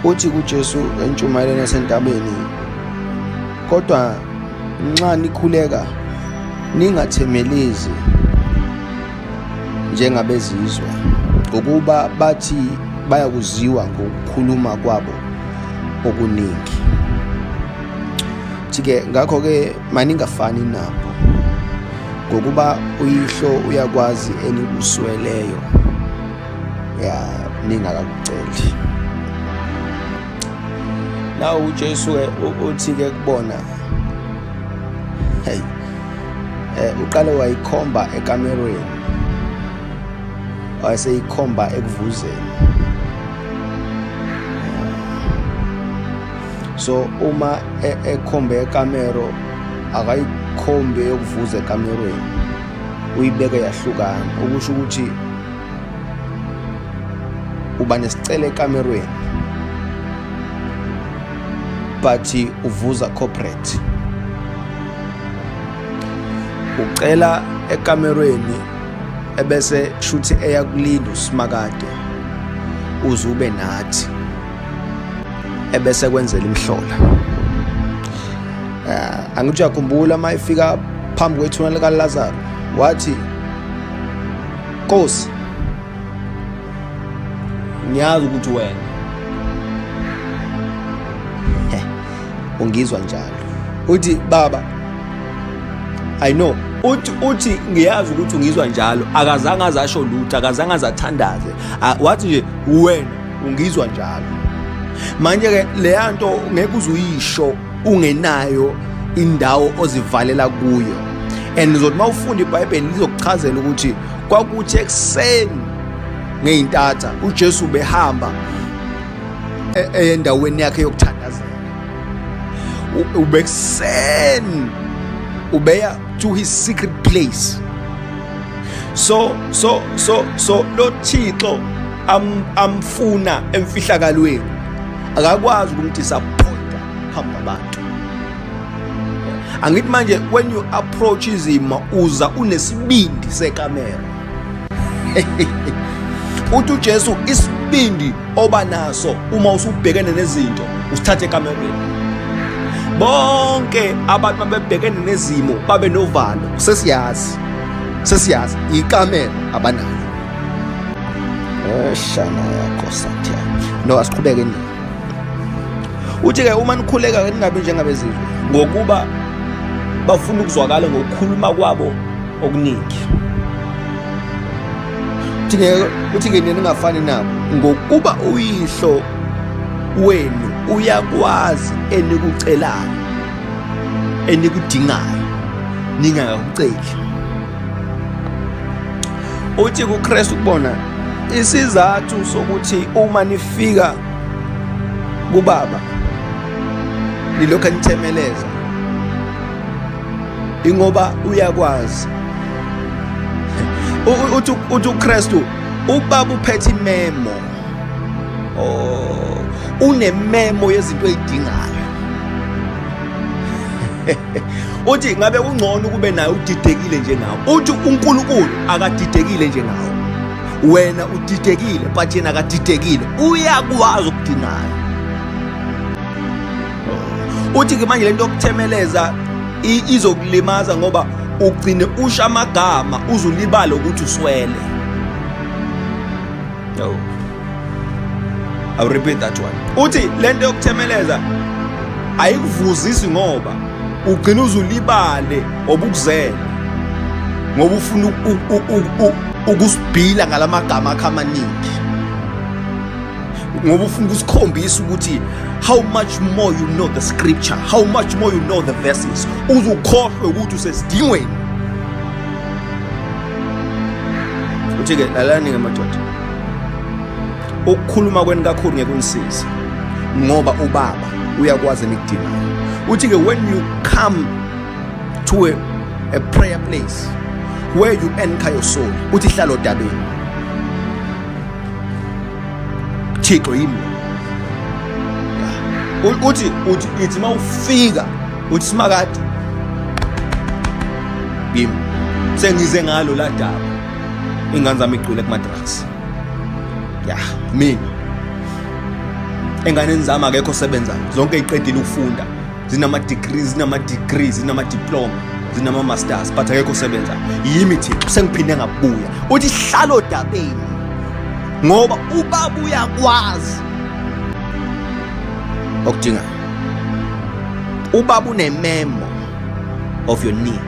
Uthi kuJesu entshumayelweni yasentabeni, kodwa nxa nikhuleka ningathemelezi njengabezizwe ngokuba bathi bayakuziwa ngokukhuluma kwabo okuningi. Thike ngakho ke maningafani nabo ngokuba uyihlo uyakwazi enikusweleyo ya ningakakuceli na uJesu uthi ke kubona hey eh uqale wayikhomba ekamerweni wayeseyikhomba ekuvuzeni so uma e, ekhombe ekamero akayikhombe yokuvuza ekamerweni uyibeke yahlukana okusho ukuthi uba nesicelo ekamerweni but uvuza corporate ucela ekamerweni ebese shuthi eyakulinda usimakade uze ube nathi ebese kwenzela imhlola uh, angithi uyakhumbula uma efika phambi kwethuna likaLazaro wathi Nkosi, ngiyazi ukuthi wena ungizwa njalo. Uthi baba I know uthi uthi ngiyazi ukuthi ungizwa njalo akazange azasho lutho akazange azathandaze wathi nje wena ungizwa njalo manje ke leyanto ngeke uzuyisho ungenayo indawo ozivalela kuyo and uzothi uma ufunda ibhayibheli lizokuchazela ukuthi kwakuthi ekuseni ngey'ntatha ujesu ubehamba e-, endaweni yakhe yokuthandazela ubekuseni ubeya to his secret place so so so so lo thixo amfuna emfihlakalweni akakwazi ukumdisappointa hamba abantu angithi manje when you approach izimo uza unesibindi sekamera uthi uJesu isibindi oba naso uma usubhekene nezinto usithathe ekamereni bonke abantu babebhekene nezimo babe novalo sesiyazi sesiyazi ikamera abanalo shana yakho sathi no asiqhubeke nini uthi ke uma nikhuleka ke ningabi njengabezizwe ngokuba bafuna ukuzwakala ngokukhuluma kwabo okuningi uthi ke uthi ke nina ningafani nabo ngokuba uyihlo wenu uyakwazi enikucelayo enikudingayo ningakuceli uthi kuKristu kubona isizathu sokuthi uma nifika kubaba nilokhu enithemeleza ingoba uyakwazi uthi uthi uKristu ubaba uphethe imemo oh unememo yezinto ezidingayo uthi ngabe ungcono ukube naye udidekile njengawo uthi uNkulunkulu akadidekile njengawo wena udidekile but yena akadidekile uyakwazi ukudinaya uthi-ke manje le nto yokuthemeleza izokulimaza ngoba ugcine usha amagama uzulibale ukuthi uswele I will repeat that one. Uthi lento yokuthemeleza ayikuvuzisi ngoba ugcina uzulibale obukuzela ngoba ufuna ukusibhila ngalamagama akhe amaningi ngoba ufuna ukusikhombisa ukuthi how much more you know the scripture how much more you know the verses uzukhohlwe ukuthi usesidingweni uthi-ke lalani-ke madoda ukukhuluma kweni kakhulu ngeke unisize ngoba ubaba uyakwazi enikudingayo uthi-ke when you come to a, a prayer place where you anchor your soul uthi hlala odabeni thixo yimi uthi uthi ithi uma ufika uthi simakade yimi sengize ngalo la daba ingane zami igcwele kumadrugs ya mina enganeni zami akekho osebenzayo zonke iqedile ukufunda zinama-degrees zinama-degree zinama-diploma zinama-masters but akekho osebenzayo yimi thina sengiphinde ngabuya uthi hlalo dabeni ngoba ubaba uyakwazi okudingayo ubaba unememo of your need